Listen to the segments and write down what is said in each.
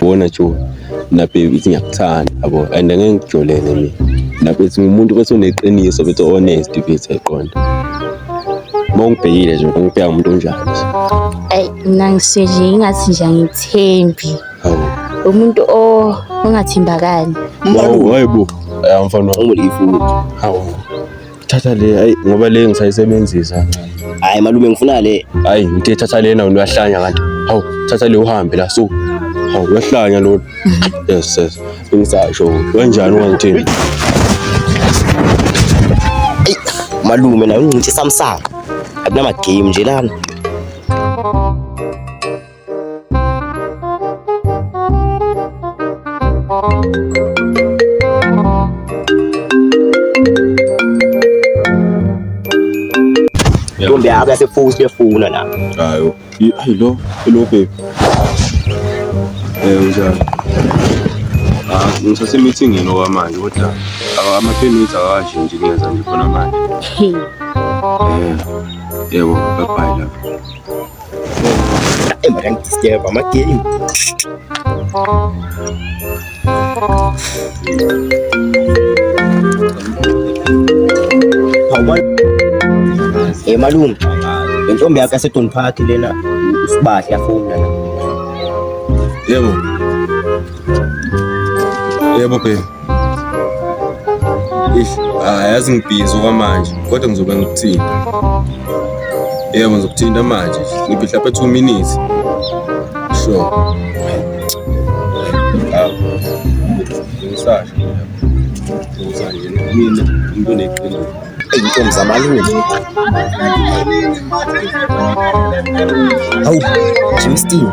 bona jo nabe ithi ngiyakuthanda yabo and angeke ngijolele mina nabe ithi umuntu bese uneqiniso bese honest bese eqonda uma ungibhekile nje ungibheka umuntu onjani nje ayi mina ngiseje ingathi nje angithembi hawu umuntu o- ongathembakali Hawu, hayi bo Eh, mfana wami ulifu hawu thatha le hayi ngoba le ngisayisebenzisa kancane hayi malume ngifuna le hayi ngithe thatha lena wena uyahlanya kanti hawu thatha le uhambe la so hawu uyahlanya lona yes yes ngisasho kanjani ungangithini Ey, malume naye ungcintisa msaka akunama game nje lana Ntombi yakho yasefusi kuyefuna la. Hayo. I- Hayi lo, hello babe. Eh unjani? Ah, ngisase meetingini okwamanje kodwa awa- ama 10 minutes akawashi nje ngenza nje khona manje. Hey. Eh. Yebo, bye bye lapho. Embarangidisturb amagame. Hey malume, le ntombi yakho yaseDon Park lena usibahle afuna la. Yebo. Yebo baby. Ish, ayazi ngibhizi okwamanje kodwa ngizobe ngikuthini. Yebo ngizokuthinta manje. Ngibhidla phe 2 minutes. Sure. Ngisasho. Uzanje mina into neqiniso. Intombi zamalume. Hawu, Jimmy Steve.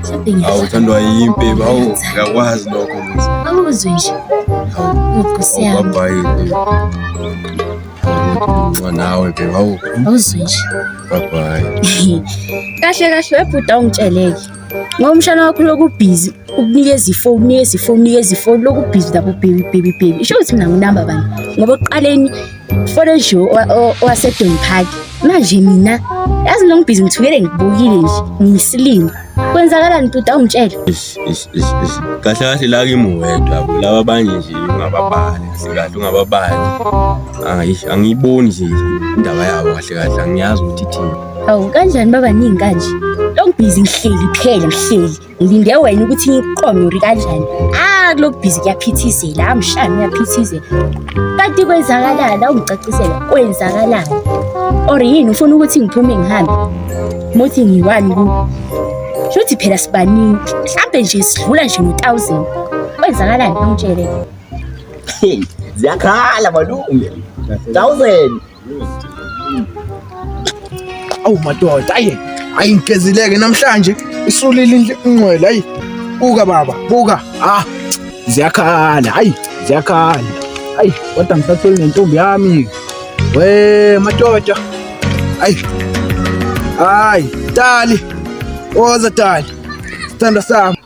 awu uthandwa yimpi bawu ngiyakwazi lokho awuzwe nje awubabhayile nawe bhe bawu awuzwe nje babhayi kahle kahle webhuda ungitsheleke ngoba umshana wakho lokubhizi ukunikeza ifoni unikeza ifoni unikeza ifoni lokubhizi lapho bhebi bhebi bhebi isho ukuthi mina nginamba bani ngoba oqaleni Forejo owasedon park manje mina yazi lo ngibhizi ngithukele ngibukile nje ngiyisilima kwenzakalani tuta ungitshele kahle kahle la kimi wedwa laba abanye nje ungababali kahle ungababali angiyiboni nje indaba yabo kahle kahle angiyazi ukuthi ithini awu kanjani babaningi kanje lo ngibhizi ngihleli kuphela ngihleli ngilinde wena ukuthi iqonyori kanjani ah kulo bhizi kuyaphithizela amshani uyaphithizela kanti kwenzakalani awungicacisela kwenzakalani or yini ufuna ukuthi ngiphume ngihambe muthi ngiwani ku shothi phela sibaningi mhlampe nje sidlula nje ngo-thousand kwenzakalani angitshele ziyakhala malume thousand Awu madoda ayi ayingezileke namhlanje isulile inqwela ayi buka baba buka ah ziyakhala hayi ziyakhala hayi kodwa ngisatheli nentombi yami we madoda hayi hayi tali oza tali sithanda sami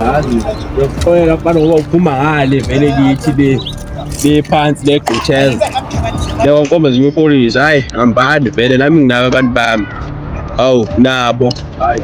yazi yokuxolela abantu ngoba uphuma ngale vele kithi le bephansi legqutsheza leyo nkomba zinye upolisi hayi hambani vele nami nginabo abantu bami awu nabo hayi